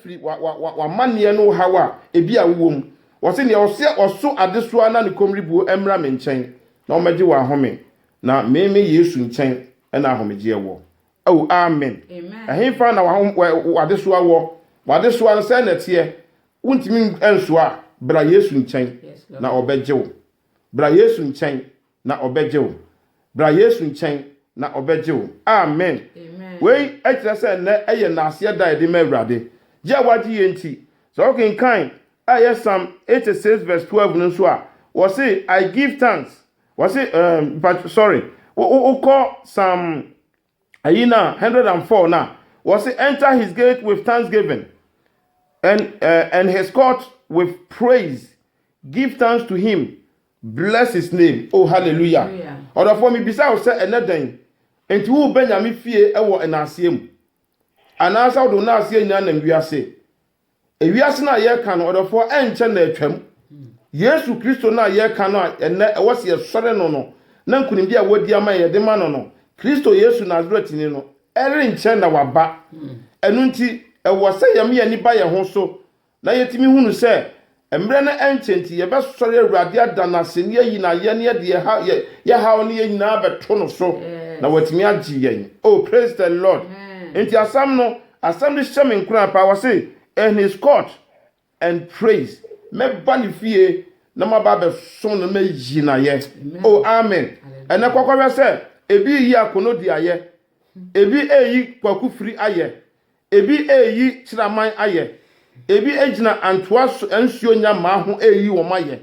afiri w'amanneɛ no haw a ebi a wowɔ mu. Wɔse nea ɔsɛ ɔso adesoa na ne kommribuo mmra me nkyɛn na ɔmmɛgye wɔ ahome, na me me Yesu nkyɛn na ahomegyeɛ wɔ. Oh, amen. Ɛhenfa na w'adesoa wɔ? W'adesoa no, sɛn na ɛteɛ? Wontumi nsoa a, bra Yesu nkyɛn na ɔbɛgye wo. Bra Yesu nkyɛn na ɔbɛgye wo. Bra Yesu nkyɛn, na ɔbɛgye wo. Amen! Wei kyerɛ sɛ nnɛ yɛ Nnaaseɛ Da a yɛde ma Awurade. Gye a woagye yɛ nti, sɛ wokenkan a ɛyɛ Psalm eighty six verse twelve no nso a, wɔse, I give thanks, wɔse, ɛɛm, mpa, sorry, wo, wo, wokɔ Psalm Ayi na one hundred and four no a, wɔse enter his gate with thanksgiving and uh, and his court with praise. Give thanks to him, bless his name. Oh hallelujah. Ɔdɔfoɔ mebisa wo sɛ ɛnɛ dɛn nti wobɛ Nyame fie wɔ nnaaseɛ mu? Anaasɛ wode wo nnaaseɛ nyinaa nam wiase? Ewiase no a yɛreka no, ɔdɔfoɔ, ɛnkyɛ na atwam. Yesu Kristo no a yɛreka no a ɛnnɛ ɛwɔ sɛ yɛsɔre no no, na nkonimdie a wadi ama yɛn yɛde ma no no, Kristo Yesu Nasaretni no, ɛrenkyɛ na waba. Ɛno nti, ɛwɔ sɛ yɛma yɛn ani ba yɛn ho so na yɛtumi hunu sɛ Mmerɛ no ɛnkyɛ nti yɛbɛsɔre Awurade ada no ase ne yɛayi n'ayɛneɛ de yɛn haw ne yɛn nyinaa abɛto no so na watumi agye yɛn. Oh praise the Lord. Nti asɛm no, asɛm no hyɛ me nkuran paa, wɔse in his court and praise, mɛba ne fie na maba abɛsom no na mayi n'ayɛ. Oh amen. Ɛnɛ kɔkɔhwɛ sɛ ebi reyi Akono di ayɛ, ebi reyi Kwaku Firi ayɛ, Ebi reyi kyiraman ayɛ. Ebi gyina antoa so nsuo nnya mmaa ho reyi wɔn ayɛ.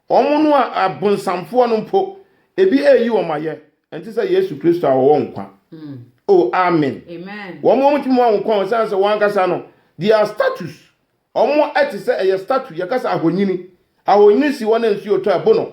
Wɔn no a abonsamfoɔ no mpo, ebi reyi wɔn ayɛ. Ɛnte sɛ Yesu Kristo a ɔwɔ nkwa. O, amen! Wɔn a wɔntumi mma wɔn nkwa ɛsiane sɛ wɔn ankasa no, they are statues. Wɔn te sɛ, ɛyɛ statue, yɛka sɛ ahonyini. Ahonyini si hɔ na nsuo tɔ a, ɛbo no.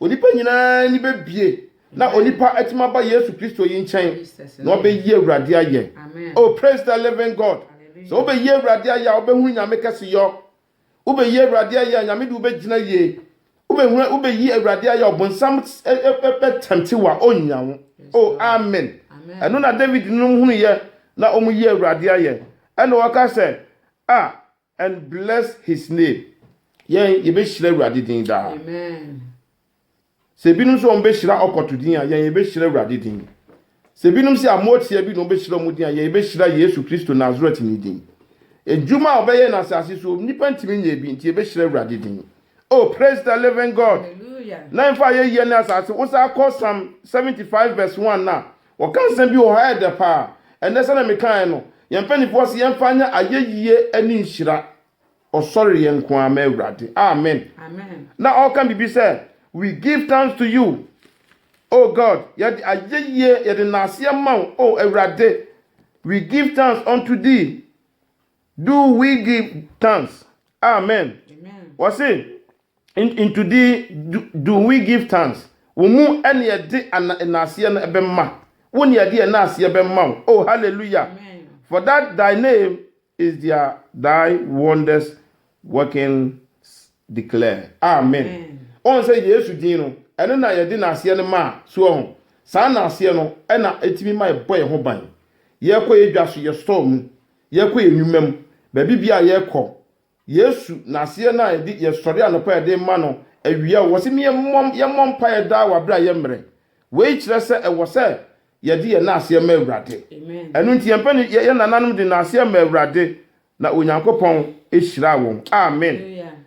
Onipa nyinaa ani bɛbue na onipa atumi aba Yesu Kristo yi nkyɛn na ɔbɛyi Awurade ayɛ. Oh, praise the living God! Sɛ wobɛyi Awurade ayɛ a, wobɛhunu Nyame kɛseyɔ. Wobɛyi Awurade ayɛ a, Nyame de wo bɛgyina yie. Wobɛhunu, wobɛyi Awurade ayɛ a, ɔbonsam bɛtɛmte wo a, ɔnnya wo. Oh, amen! Ɛno na David nom hunuiɛ na wɔyi Awurade ayɛ. Ɛna ɔka sɛ, Ah! And bless his name Yɛn yɛbɛhyira Awurade din daa. Amen. Sɛ ebinom nso wɔn bɛhyira ɔkɔto din a, yɛn yɛbɛhyira Awurade din. Sɛ ebinom sɛ amoatia bi na wɔn bɛhyira wɔn din a, yɛn yɛbɛhyira Yesu Kristo Nasaretni din. Adwuma a ɔbɛyɛ no asase so, nnipa ntumi nyɛ bi, nti yɛbɛhyira Awurade din. Oh, praise the living God! Hallelujah. Na ɛmfa ayɛyie ne asase, wo saa kɔ Psalm 75 verse 1 no a, Wɔka nsɛm bi wɔ hɔ a ɛyɛ dɛ paa. Ɛnnɛ, sɛnea mekae no, yɛn mpanyimfo se yɛmfa nyɛ ayeyie ne nhyira. Ɔsɔreɛ nko ara ma Awurade. Amen. Na ɔreka biribi sɛ, We give thanks to you, O God, yɛde ayeyie, yɛde nnaaseɛ ma wo, O Awurade, We give thanks unto thee, Do we give thanks? Amen. Wɔse, Into thee do, do we give thanks? Wo mu ne yɛde ana, naaseɛ no bɛma. Wo ne yɛde yɛn naaseɛ bɛma wo. Oh, hallelujah. For that thy name is dear, thy wonders workings declare. Amen. Ɔn sɛ Yesu din no, ɛno na yɛde naaseɛ no maa. So ɔho? Saa naaseɛ no na ɛtumi ma yɛbɔ yɛn ho ban. Yɛkɔ yɛn dwa so, yɛ store mu. Yɛkɔ yɛn nnwuma mu, baabi biara a yɛkɔ, Yesu, N'aseɛ no a yɛde, yɛsɔre anɔpa a yɛde ma No, awia o, Ɔse me yɛmmɔ, yɛmmɔ mpaeɛ daa wɔ aberɛ a yɛmmerɛ. Wei kyerɛ sɛ ɛwɔ sɛ yɛde yɛn naaseɛ ma Awurade. Ɛno nti yɛmpɛ no, yɛn nananom de naaseɛ maa Awurade, na Onyankopɔn hyiraa wɔn. Amen.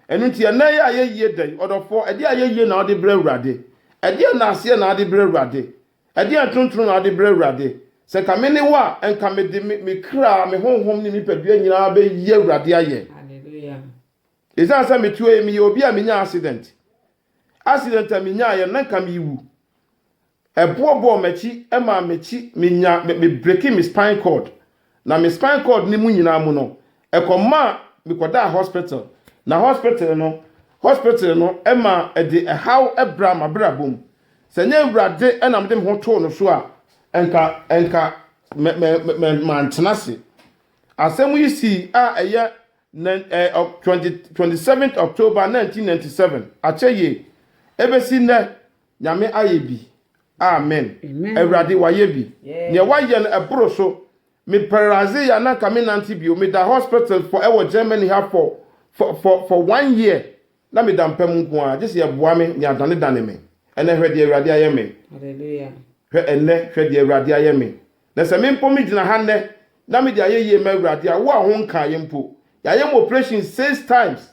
Ɛno nti ɛnnɛ yɛ a yɛyie dɛn? Ɔdɔfoɔ, ɛdeɛ a yɛyie na wode brɛ Awurade? Ɛdeɛ naaseɛ na wode brɛ Awurade? Ɛdeɛn ntontono na wode brɛ Awurade? Sɛ nka me ne wo a, nka mede me me kra, me honhom ne me nipadua nyinaa bɛyi Awurade ayɛ. Ɛsiane sɛ meteɛ yi, meyɛ obi a menyaa accident. Accident a menyaeɛ, na nka merewu. Ɛboɔ bɔɔ m'akyi maa m'akyi, menya, me, me breaki me spine cord. na me spine cord no mu nyinaa mu no, ɛkɔmaa mekɔdaa hospital, na hospital no hospital no ma ɛde ɛhaw bra m'abrabɔ mu. Sɛ ɛnyɛ Awurade na mede me ho too no so a, nka nka mɛ mɛ mɛ mantena ase. Asɛm yi sii a ɛyɛ nine, eh, 20, 27 October 1997, akyɛ yie. Ɛbɛsi nnɛ, Nyame ayɛ bi amen. Awurade wayɛ bi neɛ wayɛ no ɛboro so me pɛrɛdze ya na nka me nante bio me da hospital fɔ ɛwɔ Germany ha fɔ fɔ fɔ fɔ one year na me da mpa mu nko ara gyese yɛ boa me nea dane dane me ɛnɛ hwɛ deɛ awurade ayɛ me hwɛ ɛnɛ hwɛ deɛ awurade ayɛ me na sɛ me mpo me gyina ha nnɛ na me de ayɛ yie ma awurade a wo a ho nkaa yɛ mpo yayɛ mo operation six times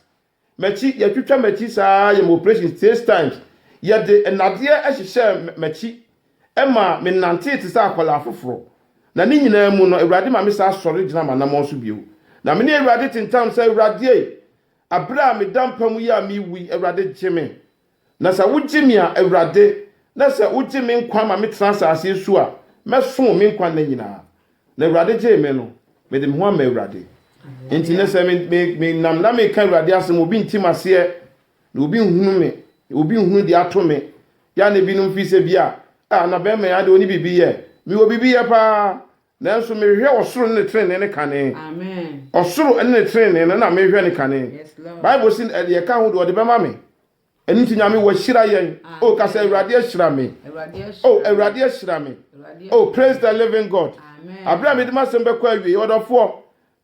M'akyi, yɛtwitwa m'akyi saa, yɛ me operations thes times, yɛde nnadeɛ hyehyɛɛ m'akyi ma me nantee te sɛ akwadaa foforɔ, na ne nyinaa mu no Awurade ma me saa sɔre gyina m'anamɔn so bio, na me ne Awurade te ntam sɛ Awurade ei, aberɛ a meda mpa mu yi a merewu yi Awurade gye me. Na sɛ wogye me a, Awurade, na sɛ wogye me nkwa ma metena asase yi so a, mɛso wo me nkwa nna nyinaa. Na Awurade gyee me no, mede me ho ama Awurade. Enti nnɛ sɛ me, me, menam na meka Awurade asɛm, obi nte m'aseɛ, na obi nhunu me, na obi nhunu deɛ ato me. Yɛ a na ebinom fi sɛ bi a, a, na bɛrima yi adeɛ ɔne biribi yɛ. Mewɔ biribi yɛ paa, Nanso mehwehwɛ ɔsoro ne ne trenee no kane. Ɔsoro ne ne trenee no na mehwehwɛ ne kane. Bible se deɛ ɛka ho deɛ ɔde bɛma me. Ɛno nti Nyame wahyira yɛn. O ka sɛ Awurade ahyira me. O Awurade ahyira me. O praise the living God. Aberɛ a mede m'asɛm bɛkɔ awiei, ɔdɔfoɔ,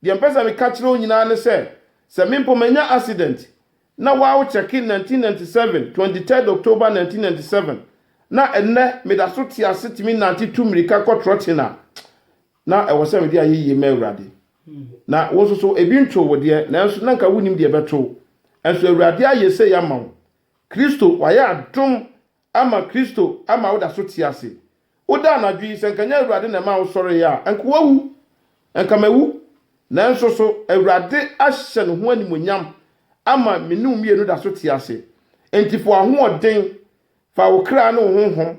deɛ mpɛ sɛ meka kyerɛ wo nyinaa ne sɛ, sɛ me mpo manya accident, Na wow check in nineteen ninety seven twenty third October nineteen ninety seven na ɛnnɛ meda so te ase tumi nante tu mmirika kɔ trɔkyen a na ɛwɔ sɛ mede ayeyie ma Awurade na wo nso so ebi ntoo wo deɛ nanso na nka wonim deɛ ɛbɛto wo nso Awurade ayɛ sei ama wo Kristo wayɛ adom ama Kristo ama woda so te ase. Woda anadwo yi, sɛ anka ɛnyɛ Awurade na ɛmaa wosɔree a, anka woawu. Anka mawu. Nanso so Awurade ahyɛ ne ho animuonyam ama me ne wo mmienu da so te ase? Enti fa w'ahoɔden, fa wo kra ne wo honhom,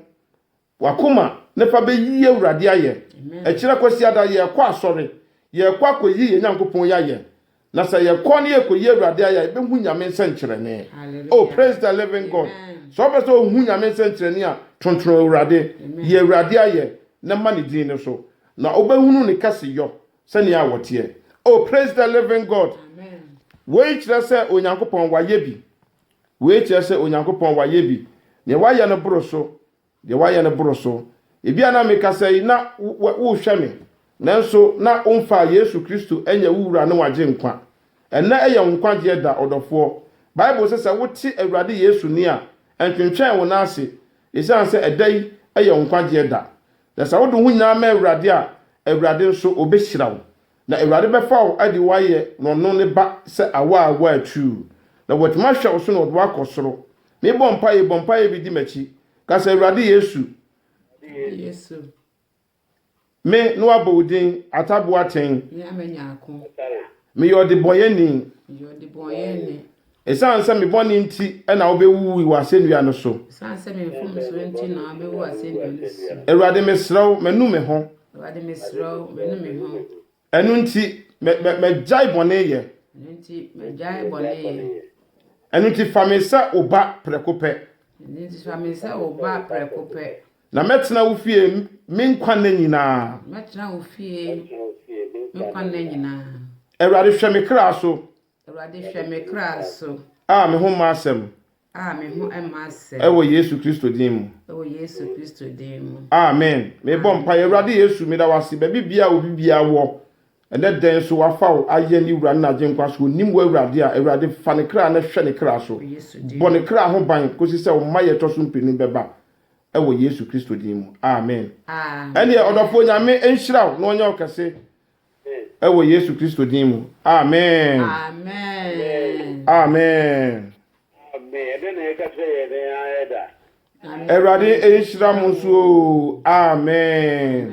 w'akoma na fa bɛyi Awurade ayɛ. Ɛkyerɛ Kwasiada, yɛrekɔ asɔre. Yɛrekɔ akɔyi yɛn Nyankopɔn yi ayɛ. Na sɛ yɛkɔ ne yɛkɔyi Awurade ayɛ a, yɛbɛhu Nyame nsɛnkyerɛnne. Oh, praise the living God. Sɛ wopɛ sɛ wohu Nyame nsɛnkyerɛnne a, tontono Awurade, yi Awurade ayɛ na ma ne din no so, na wobɛhunu ne kɛseyɔ sɛdeɛ a ɔteɛ. Oh, praise the living God. Woi kyerɛ sɛ Onyankopɔn wayɛ bi. Woi kyerɛ sɛ Onyankopɔn wayɛ bi. Deɛ wayɛ no boro so. Deɛ woayɛ no boro so. Ebia na mekasa yi na worehwɛ me, nanso na womfaa Yesu Kristo nyɛ wo Wura ne w'Agyenkwa. Ɛnnɛ yɛ wo nkwagyeɛ da, ɔdɔfoɔ. Bible se sɛ wote Awurade Yesu nne a, ntwentwɛn wo nan ase, esiane sɛ ɛda yi yɛ wo nkwagyeɛ da. Na sɛ wode wo ho nyinaa ma Awurade a, Awurade nso ɔbɛhyira wo. Na Awurade bɛfa wo de wo ayɛ N'ɔno Ne ba sɛ awa a woatuu, na W'atumi ahwɛ wo so na Ɔde wo akɔ soro. Merebɔ mpaeɛ yi, bɔ mpaeɛ bi di m'akyi. Ka sɛ, Awurade Yesu, me ne wo abɔ wo din ataboa atɛn. Meyɛ ɔdebɔnyɛni. Esiane sɛ me bɔne nti na wobewuwui wɔ asɛnnua no so. Esiane sɛ me mfomsoɔ nti na wabewu wɔ asɛnnua no so. Awurade, mesrɛ wo, manu me ho. Awurade, mesrɛ wo, manu me ho. Ɛno nti, mɛ, mɛ, mɛgyae bɔne yɛ. Ɛno nti, mɛgyae bɔne yɛ. Ɛno nti, fa me sɛ wo ba prɛko pɛ. Ɛno nti, fa me sɛ wo ba prɛko pɛ. Na mɛtena wo fie me nkwa nna nyinaa. Mɛtena wo fie me nkwa nna nyinaa. Awurade, hwɛ me kra so. Awurade hwɛ me kra so. A me ho mma asɛm. A me ho mma asɛm. Ɛwɔ Yesu Kristo din mu. Ɛwɔ Yesu Kristo din mu. Amen. Mebɔ mpaeɛ, Awurade Yesu, meda wo ase, baabi biara a obi biara wɔ, ɛnɛ da yi nso wafa wo ayɛ ne Wura ne n'Agyenkwa. Sɛ onim wo Awurade a, Awurade fa ne kra na hwɛ ne kra so. Bɔ ne kra ho ban kɔsi sɛ wo mmaeɛ ɛtɔ so mpenu bɛba. Ɛwɔ Yesu Kristo din mu. Amen. Ɛnneɛ ɔdɔfoɔ Nyame nhyira wo na ɔnyɛ wo kɛse. Ɛwɔ Yesu Kristo din mu, amen. Amen. Awurade nhyira mo nso oo, amen.